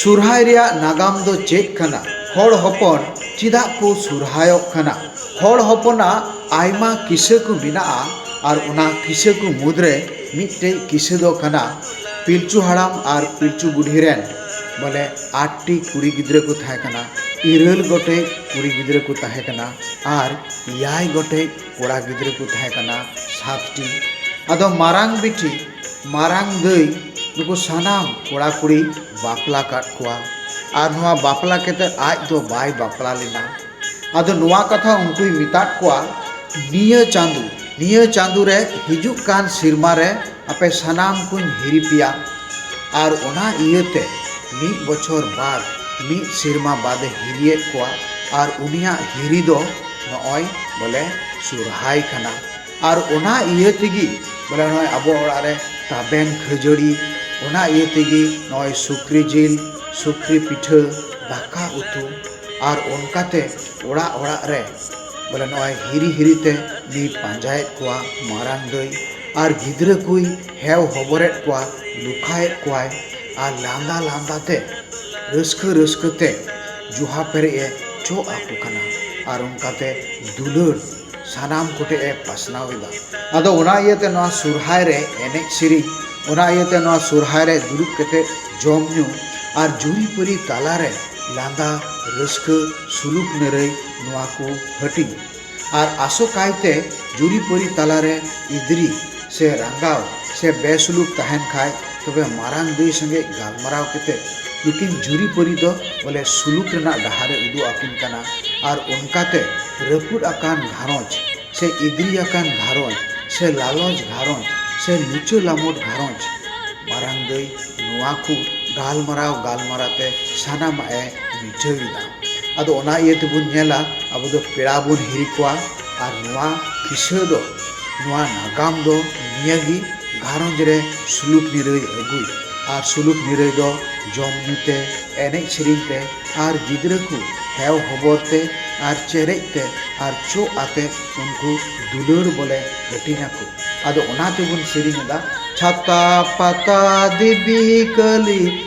ᱥᱚᱨᱦᱟᱭ ᱨᱮᱭᱟᱜ ᱱᱟᱜᱟᱢ ᱫᱚ ᱪᱮᱫ ᱠᱟᱱᱟ ᱦᱚᱲ ᱦᱚᱯᱚᱱ ᱪᱮᱫᱟᱜ ᱠᱚ ᱥᱚᱨᱦᱟᱭᱚᱜ ᱠᱟᱱᱟ ᱦᱚᱲ ᱦᱚᱯᱚᱱᱟᱜ ᱟᱭᱢᱟ ᱠᱤᱥᱟᱹ ᱠᱚ ᱢᱮᱱᱟᱜᱼᱟ ᱟᱨ ᱚᱱᱟ ᱠᱤᱥᱟᱹ ᱠᱚ ᱢᱩᱫᱽᱨᱮ ᱢᱤᱫᱴᱮᱱ ᱠᱤᱥᱟᱹ ᱫᱚ ᱠᱟᱱᱟ ᱯᱤᱞᱪᱩ ᱦᱟᱲᱟᱢ ᱟᱨ ᱯᱤᱞᱪᱩ ᱵᱩᱰᱷᱤ ᱨᱮᱱ ᱵᱚᱞᱮ ᱟᱴ ᱴᱤ ᱠᱩᱲᱤ ᱜᱤᱫᱽᱨᱟᱹ ᱠᱚ ᱛᱟᱦᱮᱸ ᱠᱟᱱᱟ ᱤᱨᱟᱹᱞ ᱜᱚᱴᱮᱡ ᱠᱩᱲᱤ ᱜᱤᱫᱽᱨᱟᱹ ᱠᱚ ᱛᱟᱦᱮᱸ ᱠᱟᱱᱟ ᱟᱨ ᱮᱭᱟᱭ ᱜᱚᱴᱮᱡ ᱠᱚᱲᱟ ᱜᱤᱫᱽᱨᱟᱹ ᱠᱚ ᱛᱟᱦᱮᱸ ᱠᱟᱱᱟ ᱥᱟᱛᱴᱤ ᱟᱫᱚ ᱢᱟᱨᱟᱝ ᱵᱤᱴᱤ ᱢᱟᱨᱟᱝ ᱫᱟᱹᱭ ᱱᱩᱠᱩ ᱥᱟᱱᱟᱢ ᱠᱚᱲᱟ ᱠᱩᱲᱤᱭ ᱵᱟᱯᱞᱟ ᱠᱟᱜ ᱠᱚᱣᱟ ᱟᱨ ᱱᱚᱣᱟ ᱵᱟᱯᱞᱟ ᱠᱟᱛᱮ ᱟᱡ ᱫᱚ ᱵᱟᱭ ᱵᱟᱯᱞᱟ ᱞᱮᱱᱟ ᱟᱫᱚ ᱱᱚᱣᱟ ᱠᱟᱛᱷᱟ ᱩᱱᱠᱩᱭ ᱢᱮᱛᱟᱜ ᱠᱚᱣᱟ ᱱᱤᱭᱟᱹ ᱪᱟᱸᱫᱚ ᱱᱤᱭᱟᱹ ᱪᱟᱸᱫᱚ ᱨᱮ ᱦᱤᱡᱩᱜ ᱠᱟᱱ ᱥᱮᱨᱢᱟ ᱨᱮ ᱟᱯᱮ ᱥᱟᱱᱟᱢ ᱠᱚᱧ ᱦᱤᱨᱤ ᱯᱮᱭᱟ ᱟᱨ ᱚᱱᱟ ᱤᱭᱟᱹᱛᱮ ᱢᱤᱫ ᱵᱚᱪᱷᱚᱨ ᱵᱟᱫᱽ ᱢᱤᱫ ᱥᱮᱨᱢᱟ ᱵᱟᱫᱽ ᱮ ᱦᱤᱨᱤᱭᱮᱫ ᱠᱚᱣᱟ ᱟᱨ ᱩᱱᱤᱭᱟᱜ ᱦᱤᱨᱤ ᱫᱚ ᱱᱚᱜᱼᱚᱭ ᱵᱚᱞᱮ ᱥᱚᱨᱦᱟᱭ ᱠᱟᱱᱟ ᱟᱨ ᱚᱱᱟ ᱤᱭᱟᱹ ᱛᱮᱜᱮ ᱵᱚᱞᱮ ᱱᱚᱜᱼᱚᱭ ᱟᱵᱚ ᱚᱲᱟᱜ ᱨᱮ ᱛᱟᱵᱮᱱ ᱠᱷᱟᱹᱡᱟᱹᱲᱤ ᱚᱱᱟ ᱤᱭᱟᱹ ᱛᱮᱜᱮ ᱱᱚᱜᱼᱚᱭ ᱥᱩᱠᱨᱤ ᱡᱤᱞ ᱥᱩᱠᱨᱤ ᱯᱤᱴᱷᱟᱹ ᱫᱟᱠᱟ ᱩᱛᱩ ᱟᱨ ᱚᱱᱠᱟ ᱛᱮ ᱚᱲᱟᱜ ᱚᱲᱟᱜ ᱨᱮ ᱵᱚᱞᱮ ᱱᱚᱜᱼᱚᱭ ᱦᱤᱨᱤ ᱦᱤᱨᱤ ᱛᱮ ᱩᱱᱤᱭ ᱯᱟᱸᱡᱟᱭᱮᱫ ᱠᱚᱣᱟ ᱢᱟᱨᱟᱝ ᱫᱟᱹᱭ ᱟᱨ ᱜᱤᱫᱽᱨᱟᱹ ᱠᱚᱭ ᱦᱮᱣ ᱦᱚᱵᱚᱨᱮᱫ ᱠᱚᱣᱟ ᱞᱮᱠᱷᱟᱭᱮᱫ ᱠᱚᱣᱟᱭ ᱟᱨ ᱞᱟᱸᱫᱟ ᱞᱟᱸᱫᱟ ᱛᱮ ᱨᱟᱹᱥᱠᱟᱹ ᱨᱟᱹᱥᱠᱟᱹ ᱛᱮ ᱡᱚᱦᱟ ᱯᱮᱨᱮᱡ ᱮ ᱪᱚᱜ ᱟᱠᱚ ᱠᱟᱱᱟ ᱟᱨ ᱚᱱᱠᱟᱛᱮ ᱫᱩᱞᱟᱹᱲ ᱥᱟᱱᱟᱢ ᱠᱚᱴᱷᱮᱱ ᱮ ᱯᱟᱥᱱᱟᱣ ᱮᱫᱟ ᱟᱫᱚ ᱚᱱᱟ ᱤᱭᱟᱹᱛᱮ ᱱᱚᱣᱟ ᱥᱚᱦᱨᱟᱭ ᱨᱮ ᱮᱱᱮᱡ ᱥᱮᱨᱮᱧ ᱚᱱᱟ ᱤᱭᱟᱹᱛᱮ ᱱᱚᱣᱟ ᱥᱚᱦᱨᱟᱭ ᱨᱮ ᱫᱩᱲᱩᱵ ᱠᱟᱛᱮᱫ ᱡᱚᱢ ᱧᱩ ᱟᱨ ᱡᱩᱨᱤ ᱯᱟᱹᱨᱤ ᱛᱟᱞᱟᱨᱮ ᱞᱟᱸᱫᱟ ᱨᱟᱹᱥᱠᱟᱹ ᱥᱩᱞᱩᱠ ᱱᱤᱨᱟᱹᱭ ᱱᱚᱣᱟ ᱠᱚ ᱦᱟᱹᱴᱤᱧᱟ ᱟᱨ ᱟᱥᱚᱠᱟᱭᱛᱮ ᱡᱩᱨᱤ ᱯᱟᱹᱨᱤ ᱛᱟᱞᱟᱨᱮ ᱮᱫᱽᱨᱮ ᱥᱮ ᱨᱟᱸᱜᱟᱣ ᱥᱮ ᱵᱮᱥᱩᱞᱩᱠ ᱛᱟᱦᱮᱱ ᱠᱷᱟᱡ ᱛᱚᱵᱮ ᱢᱟᱨᱟᱝ ᱫᱟᱹᱭ ᱥᱚᱸᱜᱮ ᱜᱟᱞᱢᱟᱨᱟᱣ ᱠᱟᱛᱮ ᱱᱩᱠᱤᱱ ᱡᱩᱨᱤᱯᱟᱹᱨᱤ ᱫᱚ ᱵᱚᱞᱮ ᱥᱩᱞᱩᱠ ᱨᱮᱱᱟᱜ ᱰᱟᱦᱟᱨ ᱮ ᱩᱫᱩᱜ ᱟᱹᱠᱤᱱ ᱠᱟᱱᱟ ᱟᱨ ᱚᱱᱠᱟ ᱛᱮ ᱨᱟᱹᱯᱩᱫ ᱟᱠᱟᱱ ᱜᱷᱟᱨᱚᱸᱡᱽ ᱥᱮ ᱤᱫᱽᱨᱤ ᱟᱠᱟᱱ ᱜᱷᱟᱨᱚᱸᱡᱽ ᱥᱮ ᱞᱟᱞᱚᱪ ᱜᱷᱟᱨᱚᱸᱡᱽ ᱥᱮ ᱞᱩᱪᱟᱹ ᱞᱟᱢᱚᱴ ᱜᱷᱟᱨᱚᱸᱡᱽ ᱢᱟᱨᱟᱝ ᱫᱟᱹᱭ ᱱᱚᱣᱟ ᱠᱚ ᱜᱟᱞᱢᱟᱨᱟᱣ ᱜᱟᱞᱢᱟᱨᱟᱣ ᱛᱮ ᱥᱟᱱᱟᱢᱟᱜ ᱮ ᱢᱤᱴᱷᱟᱹᱣ ᱮᱫᱟ ᱟᱫᱚ ᱚᱱᱟ ᱤᱭᱟᱹ ᱛᱮᱵᱚᱱ ᱧᱮᱞᱟ ᱟᱵᱚ ᱫᱚ ᱯᱮᱲᱟ ᱵᱚᱱ ᱦᱤᱨᱤ ᱠᱚᱣᱟ ᱟᱨ ᱱᱚᱣᱟ ᱠᱤᱥᱟᱹ ᱫᱚ ᱱᱚᱣᱟ ᱱᱟᱜᱟᱢ ᱫᱚ ᱱᱤᱭᱟᱹ ᱜᱮ ᱜᱷᱟᱨᱚᱸᱡᱽ ᱨᱮ ᱥᱩᱞᱩᱠ ᱱᱤᱨᱟᱹᱭ ᱟᱹᱜᱩᱭ ᱟᱨ ᱥᱩᱞᱩᱠ ᱱᱤᱨᱟᱹᱭ ᱫᱚ ᱡᱚᱢ ᱧᱩ ᱛᱮ ᱮᱱᱮᱡ ᱥᱮᱨᱮᱧ ᱛᱮ ᱟᱨ ᱜᱤᱫᱽᱨᱟᱹ ᱠᱚ ᱦᱮᱣ ᱦᱚᱵᱚᱨ ᱛᱮ ᱟᱨ ᱪᱮᱨᱮᱡ ᱛᱮ ᱟᱨ ᱪᱚᱜ ᱟᱛᱮ ᱩᱱᱠᱩ ᱫᱩᱞᱟᱹᱲ ᱵᱚᱞᱮ ᱦᱟᱹᱴᱤᱧ ᱟᱠᱚ ᱟᱫᱚ ᱚᱱᱟ ᱛᱮᱵᱚᱱ ᱥᱮᱨᱮᱧ ᱮᱫᱟ ᱪᱷᱟᱛᱟ ᱯᱟᱛᱟ ᱫᱮᱵᱤ ᱠᱟᱹᱞᱤ